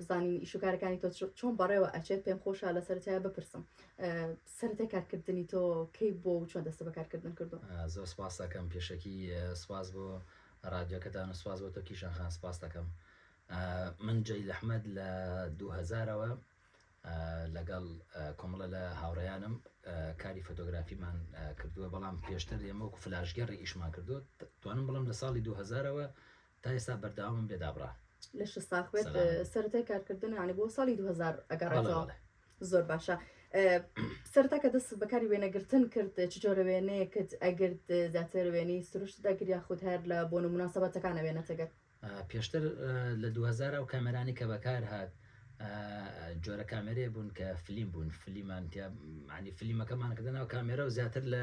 بزانین ئیشوکارەکانی تۆ چۆن بەڕێوە ئەچێت پێم خۆشە لە سەرتایە بپرسم سەرتە کارکردنی تۆ کەی بۆ و چۆن دەستە بەکارکردن کردو زۆر سپاس دەکەم پێشەکی سپاس بۆ ڕادیۆکەتان و سپاس بۆ تۆ کیشان خان سپاس دەکەم من جێی لەحمد لە 2000ەوە لەگەڵ کۆمەڵە لە هاوڕیانم کاری فۆتۆگرافیمان کردووە بەڵام پێشتر ئێمە وەکو فلاژگەڕی ئیشمان کردو توانم بڵم لە ساڵی 2000ەوە تا ئێستا بەردەوامم لێ دابڕا. لەشت ساخ بێت سەلامت. سەرەتای کارکردن یانی بۆ ساڵی 2000 بەڵێ ئەگەڕێتەوە بەڵێ زۆر باشە ئە، سەرەتا کە دەستت بەکاری وێنەگرتن کرد چ جۆرە وێنەیەکت ئەگرت زیاتر وێنەی سروشتت ئەگرت یاخود هەر لە بۆنە موناسەبەتەکان ئەوێنەت ئەگرت؟ ئا، پێشتر ئە، لە دوو هەزار ئەو کامێرانەی کە بەکار هات ئە، جۆرە کامێرەیە بوون کە فلیم بوون فلیمان تیا یانی فلیمەکەمان کردە ناو کامێرە و زیاتر لە،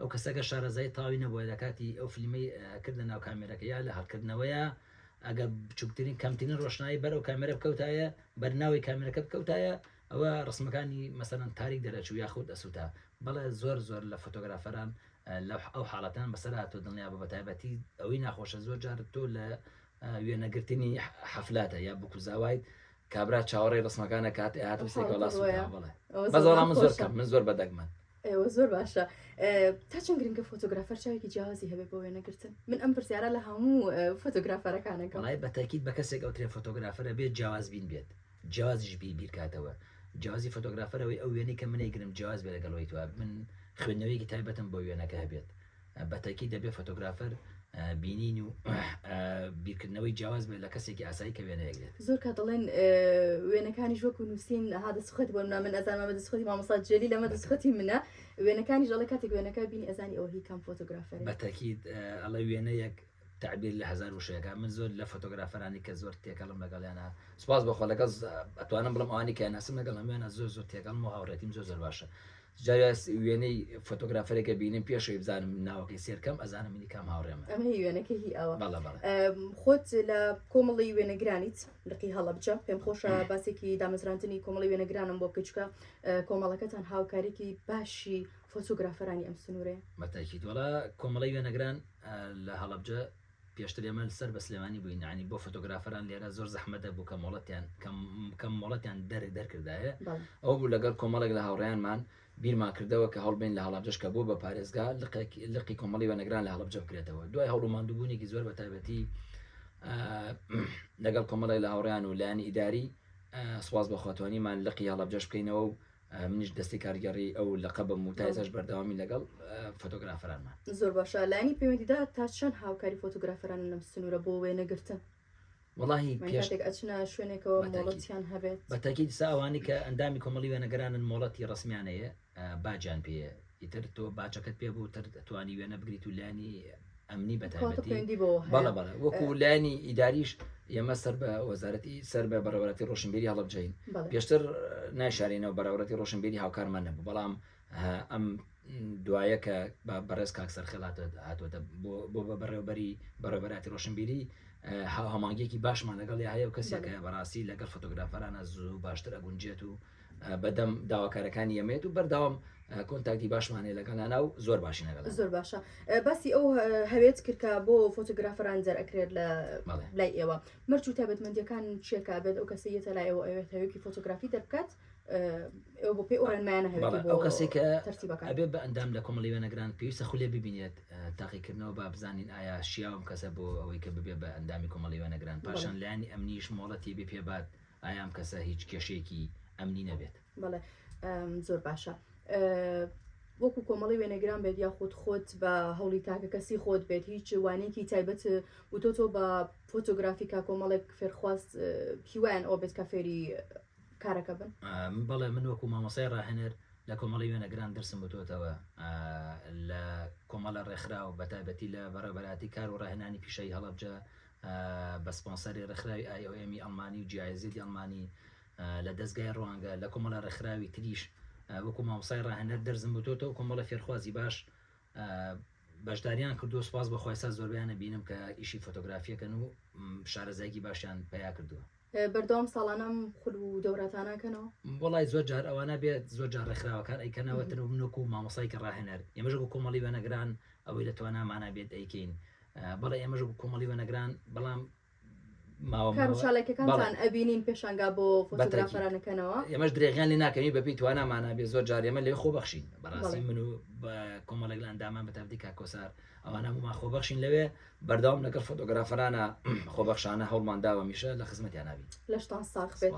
ئەو کەسە گەر شارەزایی تاوی نەبوایە لە کاتی ئەو فلیمەی ئەکرد لە ناو کامێرەکە یا لە هەڵکردنەوەیا ئەگەر بچوکترین کەمترین ڕۆشنایی بەر ئەو کامێرە بکەوتایە بەر ناوی کامێرەکە بکەوتایە ئەوە ڕسمەکانی مەسەلەن تاریک دەرەچوو یاخود ئەسوتا بەڵێ زۆر زۆر لە فۆتۆگرافەران لە ئەو حاڵەتان بەسەر هاتوو دڵنیا بە بەتایبەتی ئەوەی ناخۆشە زۆر جار تۆ لە وێنەگرتنی حەفلاتە یا بکوزاوایت کابرا چاوەڕێی ڕسمەکان دەکات ئێ هاتم سێکە وەڵا سوودە ئەوە بەڵێ ئەوە بەس زۆر وەڵام من زۆر خۆشە. کەم من زۆر بەدەگمەن ئێوە زۆر باشە ئێ، تا چەند گرنگە فۆتۆگرافەر چاوێکی جیاوازی هەبێت بۆ وێنەگرتن من ئەم پرسیارە لە هەموو ئێ، فۆتۆگرافەرەکانەکەم وڵای بە تاکید بە کەسێک ئەوترێ فۆتۆگرافەرە بێت جیاواز بین بێت جیازیش بی بیرکاتەوە جیازی فۆتۆگرافەرەوەی ئەو وێنەی کە من ئەیگرم جیاز بێ لەگەڵ ئەوەی توا من خوێندنەوەیەکی تایبەتم بۆ وێنەکە هەبێت بە تەئکید دەبێ فۆتۆگرافەر بینین و بیرکردنەوەی جیاواز بێت لە کەسێکی ئاسایی کە وێنەیەک دێت. زۆر کات دەڵێن وێنەکانیش وەکو نووسین ها دەستخوتی بۆ نمونە من ئەزانم ئەمە دەستخوتی مامۆستا جێلیل ئەمە دەستخوتی منە، وێنەکانیش دەڵێ کاتێک وێنەکە بینی ئەزانی ئەوە هی کام فۆتۆگرافەرە. بە تەئکید ئەڵێ وێنەیەک تەعبیر لە هەزار وشە ئەکا، من زۆر لە فۆتۆگرافەرانی کە زۆر تێکەڵم لەگەڵیانا سوپاس بۆ خوا لەگەڵ ئەتوانم بڵێم ئەوانەی کە ناسم لەگەڵ هەموویانا زۆر زۆر تێکەڵم و هاوڕێتیم زۆر زۆر باشە. جارێ وێنەی فۆتۆگرافەرێک ئەبینم پێش ئەوی بزانم ناوەکەی سێر کەم ئەزانم منی کام هاوڕێمە. ئەمە هی وێنەکە هی ئەوە. بەڵێ بەڵێ. خۆت لە کۆمەڵی وێنەگرانیت لقی هەڵەبجە پێم خۆشە باسێکی دامەزراندنی کۆمەڵی وێنەگرانم بۆ بکەی چونکە کۆمەڵەکەتان هاوکاریکی باشی فۆتۆگرافەرانی ئەم سنوورەیە. بە تاکید وەڵا کۆمەڵی وێنەگران لە هەڵەبجە پێشتر ئێمە سەر بە سلێمانی بووین یانی بۆ فۆتۆگرافەران لێرە زۆر زەحمەت دەبوو کە مۆڵەتیان کەم کەم مۆڵەتیان دەر دەرکردایێ بەڵێ. ئەوە بوو لەگەڵ کۆمەڵێک لە هاوڕێیانمان بیرمان کردەوە کە هەوڵبەین لە هەڵەبجەش کە بووە بە پارێزگا لقێک لقی کۆمەڵی وێنەگران لە هەڵەبجە بکرێتەوە دوای هەوڵ و ماندووبوونێکی زۆر بە تایبەتی لەگەڵ کۆمەڵێک لە هاوڕێیان و لایەنی ئیداری سوپاس بە خوا توانیمان لقی هەڵەبجەش بکەینەوە و منیش دەستی کارگێڕی ئەو لەقەبم و تا ئێساش بەردەوامی لەگەڵ فۆتۆگرافەرانمان زۆر باشە لایەنی پەیوەندیدا تا چەند هاوکاری فۆتۆگرافەرانە لەم سنوورە بۆ وێنەگرتن وڵی پێشتێک ئەچنە شوێنێکەوە مۆڵەتیان هەبێت بەتەکی دیسا ئەوانی کە ئەندامی کۆمەڵی وێنەگەرانن مۆڵەتی ڕسمیانەیە باجان پێ ئیتر تۆ باچەکەت پێ بوو تر دەتوانی وێنە بگریت و لانی ئەمنی بەتابەتی بەڵە بەڵە وەکو لانی ئیداریش ئێمە سەر بە وەزارەتی سەر بە بەڕێوەتی ڕۆشنبیری هەڵبجین پێشتر نایشارینەوە بەراورەتی ڕۆشنبیری هاوکارمان نەبوو بەڵام ئەم دوایە کە بە بەڕێز کاک سەرخێڵات هاتووەتە بۆ بە بەڕێوبەری بەڕێبەراتی ڕۆشنبیری هاوهەمانگێکی باشمان لەگەڵ هەیە و کەسێکە بەڕاستی لەگەڵ فۆتۆگرافەرانە زوو باشتر ئەگونجێت و بەدەم داواکارەکانی ئێمەیەت و بەردەوام کۆنتاکتی باشمان هەیە لەگەڵ نانا و زۆر باشین لەگەڵ زۆر باشە باسی ئەو هەوێت کردکە بۆ فۆتۆگرافران دەرەکرێت لە لای ئێوە مەرج و تابەتمەندیەکان چێکا بێت ئەو کەسی یەتە لای ئەوە ئەوێت هەوێکی فۆتۆگرافی دەربکات ئەو بۆ پێی ئەو ڕێنمایانە هەوێت بۆ کەسی کە تەرتیبەکە ئەبێ بە ئەندام لە کۆمەڵی وێنەگران پێویستە خولێ ببینێت تاقیکردنەوە با بزانین ئایا شیاوم کەسە بۆ ئەوەی کە ببێ بە ئەندامی کۆمەڵی وێنەگران پاشان لانی ئەمنیش مۆڵەتی بپێبات. بە ئایا ئەم کەسە هیچ کێشەیەکی ئەمنی نەبێت؟ بەڵێ زۆر باشە. وەکو کۆمەڵی وێنەگران بێت یاخود خۆت بە هەوڵی تاکە کەسی خۆت بێت هیچ وانێکی تایبەت وتۆ تۆ بە فۆتۆگرافیکا کۆمەڵێک فێرخواست هیوایان ئەو بێت کە فێری کارەکە بن بەڵێ من وەکو مامۆسای ڕاهێنەر لە کۆمەڵی وێنەگران درسم بتوتەوە لە کۆمەڵە ڕێکخراو بە تایبەتی لە بەڕێبەراتی کار و ڕاهێنانی پیشەی هەڵبجە بە سپۆنسەری ڕێکخراوی IOM ی ئەڵمانی و GIZ ی ئەڵمانی لە دەزگای ڕوانگە، لە کۆمەڵە ڕێکخراوی تریش وەکو مامۆستای ڕاهێنەر دەرزم بوتۆتە و کۆمەڵە فێرخوازی باش بەشداریان کردووە سپاس بۆ خوای ساز زۆربەیان ئەبینم کە ئیشی فۆتۆگرافیەکەن و شارەزایەکی باشیان پەیا کردووە بەردەوام ساڵانەم خول و دەوراتاناکەنەوە وڵای زۆر جار ئەوانە بێت زۆر جار ڕێکخراوەکان ئەیکەنەوە تر و منۆک و مامۆسایکە ڕاهێنەر ئێمەژە بۆ کۆمەڵی وێنەگران ئەوەی لە توانامانە بێت ئەیکەین بەڵێ ئێمەش بوو کۆمەڵی وەنەگران بەڵام ڕوشالێکەکانتان ئەبینین پێشانگا بۆ فۆتۆگرافەرانەکەنەوە ئێمەش درێغیان لە ناکەین بەپی توانامانە بێ زۆر جارێمە لێ خۆ بەخشین بەڕاستی من و کۆمەڵێک لە ئەندامان بە تاردی کاکۆسار ئەوانە بوومان خۆ بەخشین لەوێ بەردەوام لەگەڵ فۆتۆگرافەرانە خۆبەخشانە هەوڵمان داوە میشە لە خزمەتیان نابین لەشتان ساخ بێت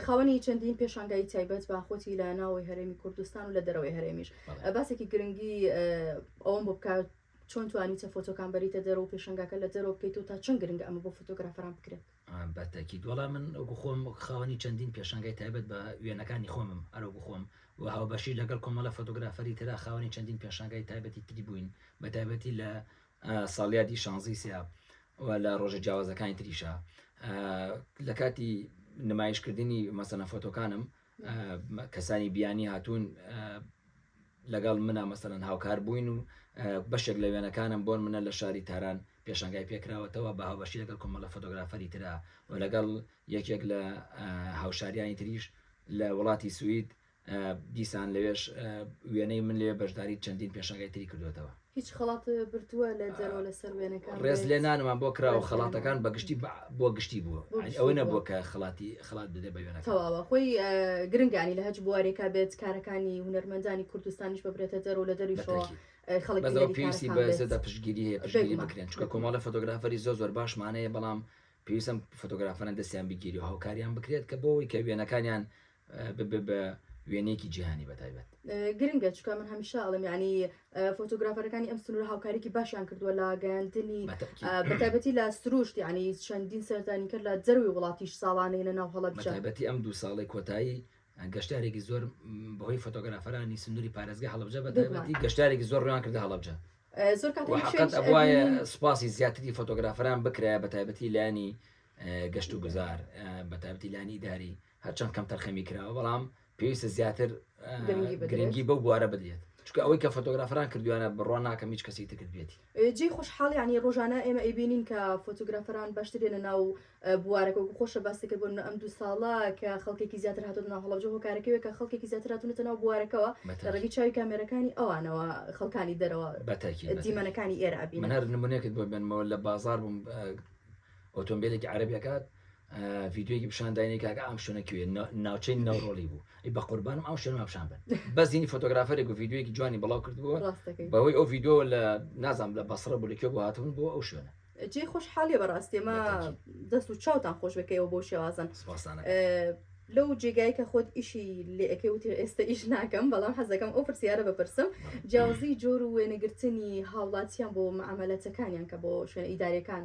خاوەنی چەندین پێشانگای تایبەت باخۆتی لە ناوەوەی هەرێمی کوردستان و لە دەرەوەی هەرێمیش باسێکی گرنگی ئەوم بۆ بکات چۆن توانیتە فۆتۆکان بەریتە دەرەوە و پێشەنگاکە لە دەرەوە بکەیتەوە تا چەند گرنگە ئەمە بۆ فۆتۆگرافەران بکرێت؟ بە تەکید وەڵا من وەکو خۆم وەک خاوەنی چەندین پێشەنگای تایبەت بە وێنەکانی خۆمم ئەرۆ بخۆم و هاوبەشی لەگەڵ کۆمەڵە فۆتۆگرافەری ترا خاوەنی چەندین پێشەنگای تایبەتی تری بووین بە تایبەتی لە ساڵیادی شانزی سیا و لە ڕۆژە جیاوازەکانی تریشە لە کاتی نمایشکردنی مەسەنە فۆتۆکانم کەسانی بیانی هاتوون لەگەڵ منا مەسەلەن هاوکار بووین و بەشێک لە وێنەکانم بۆن منە لە شاری تاران پێشنگای پێکراوەتەوە بە هاوبەشی لەگەڵ کۆمەڵە فۆتۆگرافەری ترا و لەگەڵ یەکێک لە هاوشاریانی تریش لە وڵاتی سوید دیسان لەوێش وێنەی من لێ بەشداری چەندین پێشنگای تری کردوێتەوە. هیچ خەڵات برتووە لە جەرۆ لە سەر وێنەکان بێت؟ ڕێز لێنانمان بۆ کراوە خەڵاتەکان بە گشتی بۆ گشتی بووە یانی ئەوە نەبووە کە خەڵاتی خەڵات بدرێت بە وێنەکان. تەواوە خۆی گرنگە یانی لە هەچ بوارێکا بێت کارەکانی هونەرمەندانی کوردستانیش ببرێتە جەرۆ لە دەرویشەوە خەڵک بەس ئەوە پێویستی بە زێدە پشتگیری هەیە پشتگیری بکرێن چونکە کۆمەڵێ فۆتۆگرافەری زۆر زۆر باشمان هەیە بەڵام پێویستە ئەم فۆتۆگرافەران دەستیان بگیرێ و هاوکاریان بکرێت کە بۆ ئەوەی کە وێنەکانیان ببێ بە وێنەیەکی جیهانی بەتایبەت. گرنگە چونکە من هەمیشە ئەڵێم یانی فۆتۆگرافەرەکانی ئەم سنوورە هاوکاریکی باشیان کردووە لە گەیاندنی بەتابەتی لە سروشت یانی چەندین سەردانی کرد لە جەروی وڵاتیش ساڵانەیە ناو هەڵە بەتابەتی ئەم دوو ساڵی کۆتایی گەشتارێکی زۆر بەهۆی فۆتۆگرافەرانی سنووری پارێزگە هەڵبجە بەتابەتی گەشتارێکی زۆر ڕوان کردە هەڵبجە زۆر کات وایە سوپاسی زیاتری فۆتۆگرافەران بکرایە بەتابەتی لانی گەشت و گوزار بەتابەتی لانی داری هەرچەند کەم تەرخەمی کراوە بەڵام پێویستە زیاتر گرنگی بەو بوارە بدرێت چکە ئەوەی کە فۆتۆگرافران کردویانە بڕوان ناکەم هیچ کەسی تکرد بێتی جێ خۆشحاڵ ینی ڕۆژانە ئێمە ئەیبینین کە فۆتۆگرافران باشترێنە ناو بوارەکە و خۆشە باستەکە بۆن ئەم دوو ساڵە کە خەڵکێکی زیاتر هاتۆ ناو هەڵبجە هۆکارەکەوێ کە خەڵکێکی زیاتراتونەتە ناو بوارەکەەوە ڕێگی چاوی کامێرەکانی ئەوانەوە خەڵکانی دەرەوە بەتەکی دیمەنەکانی ئێرابی منەر نمونێکت بۆ بنمەوە لە بازار بووم ئۆتۆمبیلێکی عربیەکە ڤیددیوەکی پیششان داینێک کاکە ئەم شوێنە کوێ ناوچەی ناوڕۆڵی بوو ئەی بە قوربانم ئەو شوێنما پیششان بن بەزینی فۆتۆگرافەرێک و ڤیددیوەکی جوانی بڵاو کردبووە بەهۆی ئەو ڤیددیو لە نازام لە بەسرە بوو لە کوێ بۆ هاتبوون بۆ ئەو شوێنە جێ خۆش حالی بەڕاستێمە دەست و چاوتان خۆش بکەیەوە بۆ شێوازن لەو جێگای کە خۆت ئیشی لێەکەی وتی ئێستا ئیش ناکەم بەڵام حەزەکەم ئەو پرسیارە بپرسم جیاوازی جۆر و وێنەگرتنی هاوڵاتیان بۆ مەعاملەتەکانیان کە بۆ شوێنە ئیدارەکان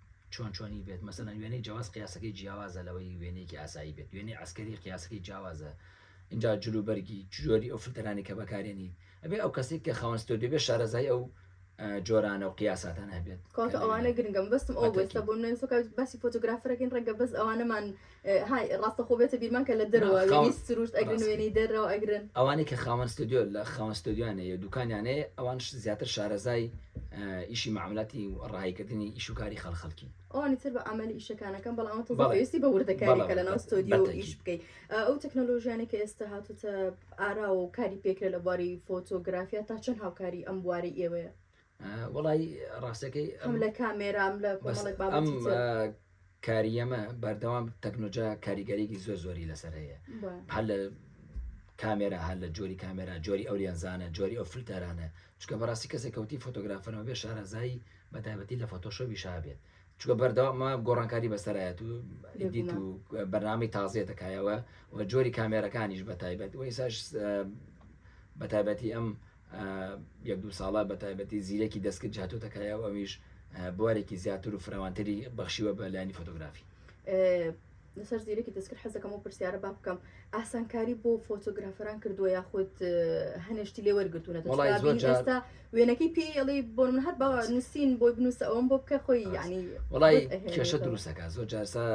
چۆن چۆنی بێت، مەسەلەن وێنەی جەواز قیاسەکەی جیاوازە لەوەی وێنەیەکی ئاسایی بێت، وێنەی عەسکەری قیاسەکەی جیاوازە، ئینجا جل و بەرگی، جۆری ئەو فلتەرانەی کە بەکارێنیت، ئەبێت ئەو کەسەی کە خاوەن ستۆدیۆ بێت شارەزایی ئەو جۆرانە و قیاساتانە هەبێت. کە لە وێنە. های ڕاستەخۆ بێتە بیرمان کە لە دەرەوە نا وێنەی خاوەن سروشت ئەگرن ڕاستە وێنەی دەرەوە ئەگرن. ئەوانەی کە خاوەن ستۆدیۆ لە خاوەن ستۆدیۆیان هەیە و دوکانیان هەیە ئەوانش زیاتر شارەزای ئیشی مەعاملاتی و ڕەهایی کردنی ئیش و کاری خەڵ خەڵکین. ئەوانی تر بە ئەمەلی ئیشەکان ئەکەن بەڵام ئەوە تازە بەڵێ پێویستی بە بەڵێ وردەکاریەکە بەڵێ لەناو بە بە ستۆدیۆ ئیش تەئکید. بکەی ئەو تەکنەلۆژیانەی کە ئێستا هاتۆتە ئاراوە و کاری پێکرێت لە بواری فۆتۆگرافیا تا چەند هاوکاری ئەم بوارەی ئێوەیە؟ وەڵای ڕاستەکەی ئەم لە کامێرام لە کۆمەڵێک بابەتی ئەم تر. آه، کاریەمە بەردەوام تەکنۆجا کاریگەریکی زۆر زۆری لەسەر هەیە بە. هەر لە کامێرا هەر لە جۆری کامێرا جۆری ئەو لێنزانە جۆری ئەو فلتەرانە چکە بەڕاستی کەسێک کەوتی فۆتۆگرافەرەوە بێ شارەزایی بە تایبەتی لە فۆتۆشۆبی شابێت چکە بەردەوامە گۆڕانکاری بەسەرایەت و ئیدیت و بەرنامی تازێ دەکایەوە و جۆری کامێرەکانیش بە تایبەت و ئیساش بە تایبەتی ئەم یەک دوو ساڵە بە تایبەتی زیرەکی دەستکرد هاتۆتە کایە و ئەویش بوارێکی زیاتر و فراوانتری بەخشیوە بە لایانی فۆتۆگرافی لەسەر زیرەکی دەستکرد حەزەکەم و پرسیارە با بکەم ئاسانکاری بۆ فۆتۆگرافەران کردووە یاخود هەنێشتی لێ وەرگتوونەتا وێنەکەی پێڵی بۆ من هەر بە نووسین بۆی بنووسە ئەوم بۆ بکە خۆی ینی وڵی کێشە دروستەکە زۆر جارسا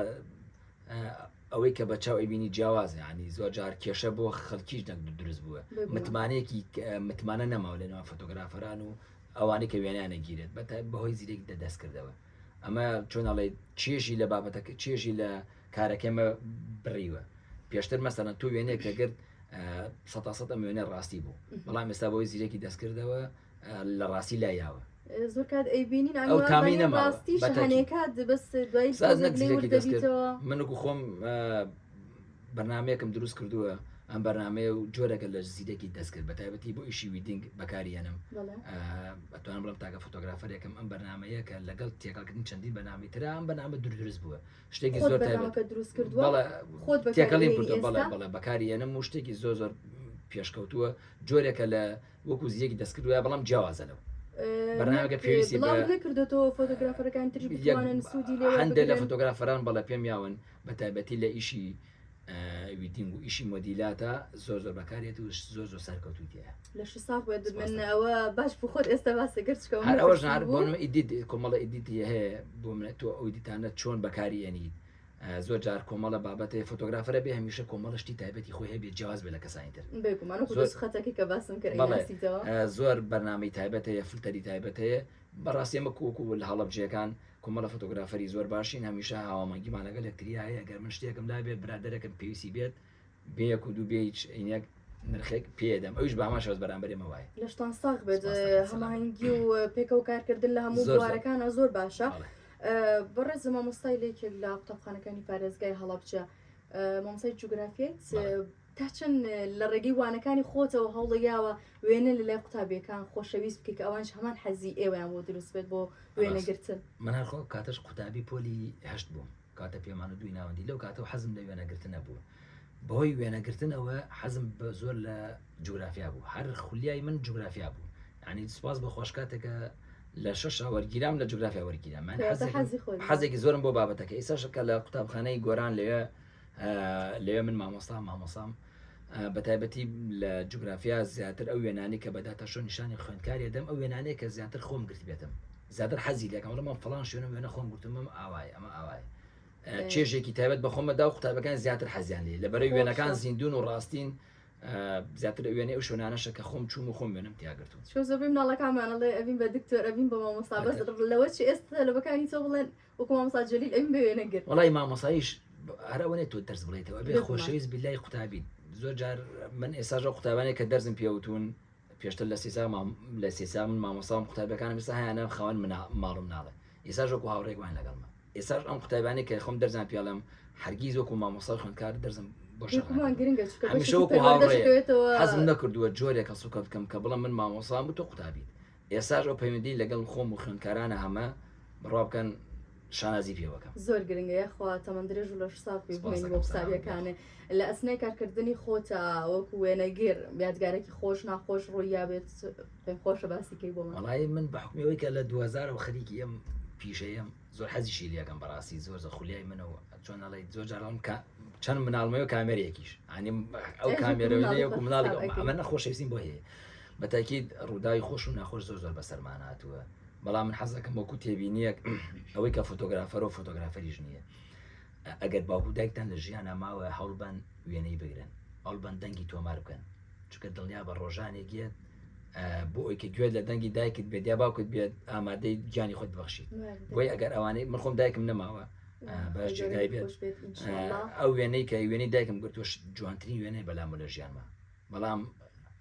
ئەوەی کە بە چاو ئەیبینی جیاوازە یعنی زۆر جار کێشە بۆ خەڵکیش دەنگ دروست بووە متمانەیەکی متمانە نەماوە لە ناو فۆتۆگرافەران و ئەوانەی کە وێنیان نەگیرێت بە بەهۆی زیرێک دە دەست کردەوە ئەمە چۆنەڵێ چێژی لە بابەتەکە چێژی لە کارەکەمە بڕیوە پێشتر مەسەنە تو وێنێک کە گرت سە سە ئەم وێنە ڕاستی بوو بەڵام ئێستا بۆی زیرێکی دەستکردەوە لە ڕاستی لا یاوە زۆرکات ئەیبینین ئەو تامی نەماڕاستیشەکات بەس دوای منکو خۆم بەنامەیەکم دروست کردووە ئەم بەرنمەیە و جۆرەکە لە زیرەکی دەستکرد بە تایبەتی بۆ ئیشی ویدنگ بەکاریانم بەتوان بڵم تاکە فۆتۆگرافەرێکم ئەم بەرنمەیە کە لەگەڵ تێکەڵکردن چەندین بەنامی تررا ئەم بەنامە دوور دروست بووە شتێکی زۆر دروست کردووە خۆت تێکەڵی بەڵێ بەڵێ بەکاریانم و شتێکی زۆر زۆر پێشکەوتووە جۆرێکە لە وەکو زیەکی دەست کردوە بەڵام جیاوازە لەو بەرنامەکە پێویستی بە نەکردێتەوە فۆتۆگرافەرەکان تریش بتوانن سوودی لێ هەندێک لە فۆتۆگرافەران بەڵە پێم یاون بە تایبەتی لە ئیشی ویدینگ و ئیشی مۆدیلاتە زۆر زۆر بەکارێت و زۆر زۆر سەرکەوتوتیە لە ساخ بێت منەوە باش بخۆت ئێستا باسە گەرچکەوە هەر ئەوەژار بۆن ئیدیت کۆمەڵە ئیدیتی هەیە بۆ منە تۆ ئەو دیتانە چۆن بەکاری ئەنیت زۆر جار کۆمەڵە بابەتێ فۆتۆگرافەرە بێ هەمیشە کۆمەڵە شتی تایبەتی خۆی هەبێت جیاواز بێ لە کەسانی تر بێگومان وەکو زۆر- دەست خەتەکە کە باسم کرد بەڵێ. ئەیناسیتەوە. آه، زۆر بەرنامەی تایبەت هەیە فلتەری تایبەت هەیە بەڕاستی ئەمە کۆکو لە هەڵەبجەکان کومەڵە فۆتۆگرافەری زۆر باشین هەمیشە هاوامەنگیمان لەگەڵ یەکتریا هەیە گەر من شتێکم لابێت برادەرەکەم پێویستی بێت بێ یەک و دوو بێ هیچ عینەک نرخێک پێدەم ئەوش بامان شەوز بەرامبەرێ مەوای لەشتان ساخ بێت هەماهنگگی و پێکەوە کارکردن لە هەموو زۆرارەکانە زۆر باشە بەڕێز زە مامۆستای لێکێک لە قوتابخانەکانی پارێزگای هەڵەبچە مامسای جوگرافیت تا چەند لە ڕێگەی وانەکانی خۆتەوە هەوڵەیاوە وێنە لە لای قوتابیەکان خۆشەویست بکە ئەوانش هەمان حەزی ئێوەیان بۆ دروست بێت بۆ وێنەگرتن من هەرخۆ کاتەش قوتابی پۆلی هەشت بووم کاتە پێمان و دووی ناوەندی لەو کاتەوە حەزم لە وێنەگرتنە بوو بەهۆی وێنەگرتن ئەوە حەزم بە زۆر لە جوگرافیا بوو هەر خولیای من جوگرافیا بوو ینی سپاس بە خۆش کاتێکە لە شەش وەرگیرام لە جوگرافیا وەرگیرام من حەزێکی زۆرم بۆ بابەتەکە ئیساشەکە لە قوتابخانەی گۆران لەوێ لەوێ من مامۆستا مامۆسام بەتایبەتی لە جوگرافیا زیاتر ئەو وێنانەی کە بە داتاشۆ نیشانی خوێندکاری ئەدەم ئەو وێنانەیە کە زیاتر خۆم گرتبێتم زیاتر حەزی لێکەم وڵام من فڵان شوێنە وێنە خۆم گرتم ئەم ئاوایە ئەمە ئاوایە چێژێکی تایبەت بە خۆمەدا و قوتابەکان زیاتر حەزیان لێ لە بەرەی وێنەکان زیندون و ڕاستین زیاتر وێنەی ئەو شوێنانەشە کە خۆم چوم و خۆم وێنم تیاگرتون چۆ زۆبی مناڵەکانمانەڵێ ئەبین بە دکتۆر ئەبین بە مامۆستا بەس لەوە چ ئێستا لەبەکانی تۆ بڵێن وەکو مامۆستا جەلیل ئەویم بە وێنە گرت. وەڵای مامۆسایش هەر ئەوە نیە تۆ دەرس بڵێیتەوە ئەبێ بێگومان. خۆشەویست بیلای قوتابیت زۆر جار من ئێستاش ئەو قوتابانەی کە دەرزم پێوتون پێشتر لە سێ ساڵ مام لە سێ ساڵ من مامۆستام قوتابیەکانم ئێستا هەیانە خاوەن منا ماڵم ناڵێ ئێستاش وەکو هاوڕێک وان لەگەڵمە ئێستاش ئەم قوتابیانەی کە خۆم دەرزان پێڵێم هەرگیز وەکو مامۆستا و خوێندکار دەرزم بۆ شەرح بێگومان نەکردووە گرنگە چونکە هەمیشە بەشێکی وەکو پەروەردەش هاوڕێ دەکەوێتەوە حەزم نەکردووە جۆرێک هەڵسوکەوت بکەم کە بڵێم من مامۆسام و تۆ قوتابیت ئێستاش ئەو پەیوەندی لەگەڵ خۆم و خوێندکارانە هەمە بڕوا بکەن شانازی پێوەکەم. زۆر گرنگە یاخوا تەمەن درێژ و لەش ساغ بی بمێنی بۆ قوتابیەکانێ لە ئەسنای کارکردنی خۆتا وەکو وێنەگر یادگارێکی خۆش ناخۆش ڕوویابێت پێم خۆشە باسی کەی بۆمان. وەڵایی من بە حوکمی ئەوەی کە لە دوو هەزارەوە خەریکی ئەم پیشەیەم. زۆر حەزیشی لێکەم بەڕاستی زۆر زە خولیای منە و چۆن ئەڵێیت زۆر جار ئەڵێم کە چەند مناڵمەیە و کامێرەیەکیش ئەنی ئەو ئێ، کامێرە مناڵی وێنەیە و خۆشم مناڵی تاقی. ئەمە نەخۆشەویستیم بۆ هەیە بە تاکید ڕووداوی خۆش و ناخۆش زۆر زۆر بەسەرمان هاتووە بەڵام من حەز دەکەم وەکو تێبینیەک ئەوەی کە فۆتۆگرافەرە و فۆتۆگرافەریش نییە ئەگەر باوکو دایکتان لە ژیانا ماوە هەوڵبەن وێنەی بگرن هەوڵبەن دەنگی تۆمار بکەن چونکە دڵنیابە ڕۆژانێک یەت بۆ ئەوی کە گوێت لە دەنگی دایکت بێت یا باوکت بێت ئامادەی گیانی خۆت بەخشیت بۆی ئەگەر ئەوانەی من خۆم دایکم نەماوە باش جێگای بێت ئەو وێنەی کە وێنەی دایکم گرتوش جوانترین وێنێ بەلام لە ژیانمە بەڵام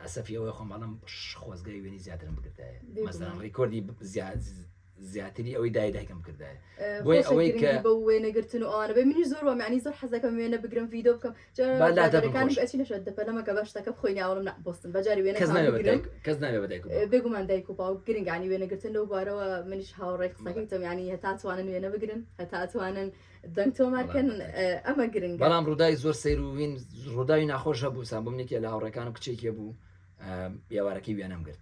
ئەسەفی ئەوەی خۆم بەڵام خۆزگای وێنی زیاترم بگرتایە مەسەن ڕیکۆردی زیاد زیاتری ئەوەی دای دایکم کردایە بۆی ئەوەی کە بە وێنە گرتن و ئەوانە بێ منی زۆر وە معنی زۆر حەزەکەم وێنە بگرم ڤیددیو بکەم جارەکانم ئەچی لەشە دەپەلەمەکە بە شتەکە بخۆینی ئاڵم نە بستن بەجاری وێنە کەس ناێ بەدایک بێگومان دایک و باو گرنگانی وێنە گرتن لەو بارەوە منیش هاوڕێک قسەکەیتم ینی هەتا توانن وێنە بگرن هەتا توانن دەنگ تۆمارکەن ئەمە گرنگ بەڵام ڕوودای زۆر سەیروین ڕووداوی ناخۆش هەبوو سام بۆ منێکی لە هاوڕێکانم کچێکێ بوو ئێوارەکەی وێنەم گرت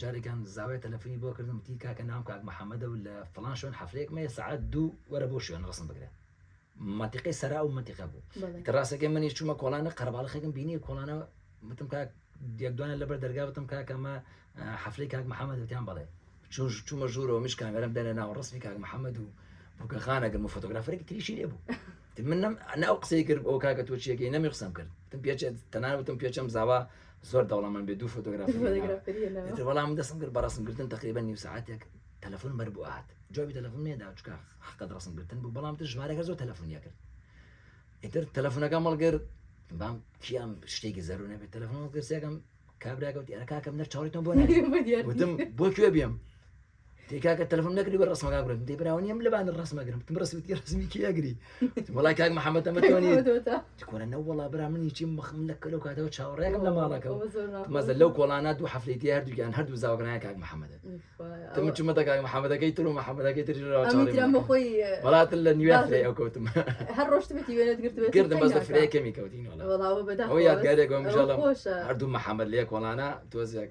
جارێکیان زاوای تەلەفونی بۆ کردم وتی کاکە ناوم کاک محەمەدە و لە فڵان شوێن حەفلەیەکم هەیە سەعات دوو وەرە بۆ شوێن ڕەسم بگرە منتیقەی سەرا و منتیقە بوو بەڵێ. کە ڕاستەکەی منی چوومە کۆڵانە قەرەباڵخێکم بینی کۆڵانە وتم کاک یەک دوانە لەبەر دەرگا وتم کاکە مە ئا، حەفلەی کاک محەمەد وتیان بەڵێ چون چوومە ژوورەوە مش کامێرەم دەنێ ناو ڕسمی کاک محەمەد و بووکەخانە گرم و فۆتۆگرافەرێکی تریشی لێ بوو وتم من نەم نە ئەو قسەی کرد ئەو کاکە تۆ چیەکەی نەمی قسەم کرد وتم پێچێت تەنانەت وتم پێچەم زاوا زۆر دەوڵەمەند بێ دوو فۆتۆگرافی بەڵام من دەسم کرد بە ڕسمکردن تقریبا نیو ساعتێک تەلەفۆن بەر بۆ هاات جوابی تەلەفۆن نێدا چکە حقت ڕسمکردن بوو بەڵام تر ژمارەکە زۆر تەلەفۆنیە کرد ئیتر تەلەفۆنەکە مەڵگر بام کیام شتێکی زەرو نەبێت تەلەفۆن گرسەکەم کابراگەوتی ئەرکاکەم نەر چاڵیتم بۆ وتم بۆ کوێ بێم دەی کاکە تەلەفۆن نەکردی بە ڕسمەکە گرم دەی براوە نیەم لەبان ڕسمە گرم تم ڕسمتی ڕسمی کی ئەگری وڵای کاک محەممەد ئەمە تۆنی تکۆرە نە وڵا برا منی چی مەخم لە کەلو کاتەوە چاوەڕێکم لە ماڵەکەەوە مەزە لەو کۆڵانە دوو هەفتێتی هەردووگیان هەردوو زاوگرنای کاک محەممەد تم چمەتە کاک محەممەدەکەی تر و محەممەدەکەی تری خۆی وڵاتن لە نوێ فرێ ئەو کەوتم هەر ڕۆشتمەتی وێنەت گرتم کردم بەس فرێ کەمی کەوتین یادگارێک هەردوو محەممەد لێ کۆڵانە تۆزێک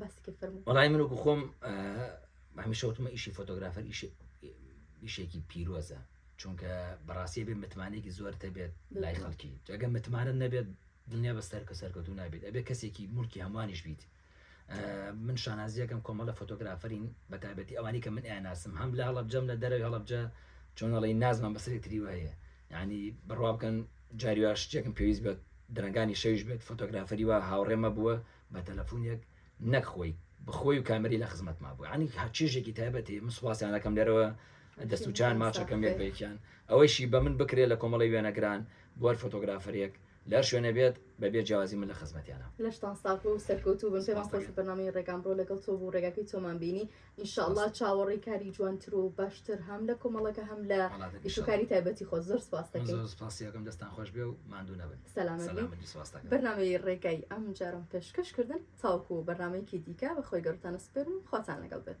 باسی کرد فەرموو وەڵای من وەکو خۆم هەمیشە وتمە ئیشی فۆتۆگرافەر ئیش ئیشێکی پیرۆزە چونکە بەڕاستی بێ متمانێکی زۆر دەبێت لای خەڵکی جگە متمانە نەبێت دنیا بە سەرکە سەرکەوتو نابێت ئەبێ کەسێکی ملکی هەمووانیش بیت من شانازیەکەم کۆمەڵە فۆتۆگرافەرین بەتابەتی ئەوانی کە من ئەناسم هەم لە هەڵبجەم لە دەرەوەی هەڵبجە چۆنەڵی نازمان بەسری تری وایە یعنی بڕوا بکەن جاریواش شتێکم پێویست بێت درنگانی شەویش بێت فۆتۆگرافەری وە هاوڕێمە بووە بە تەلەفونێک نەک خۆی بخۆی و کامری لە خزمەتما بوو ینی هەر چێژێکی تایبەتی من سوپاسیانەکەم لێرەوە دەست و چان ماچەکەم لێک بەیکیان ئەوەیشی بە من بکرێت لە کۆمەڵی وێنەگران بۆەر فۆتۆگرافەرێک لەر شوێنە بێت بەبێ جیازی من لە خزمەتیانە لەشتان ساغ بوو سەرکەوتوو بن پێمان خۆش بەنامی ڕێگان بڕۆ لەگەڵ تۆ بوو ڕێگاکەی تۆمان بینی ان شاء اللە چاوەڕێی کاری جوانتر و باشتر هەم لە کۆمەڵەکە هەم لە ئیشوکاری تایبەتی خۆ زۆر سپاس دەکەم سپاسیەکەم دەستان خۆش بێ و ماندوو نەبن سەلامەت بەرنمەی ڕێگای ئەم جارم پێشکەشکردن تاوکو بەرنمەیەکی دیکە بە خۆی گەڕتانە سپێرم خواتان لەگەڵ بێت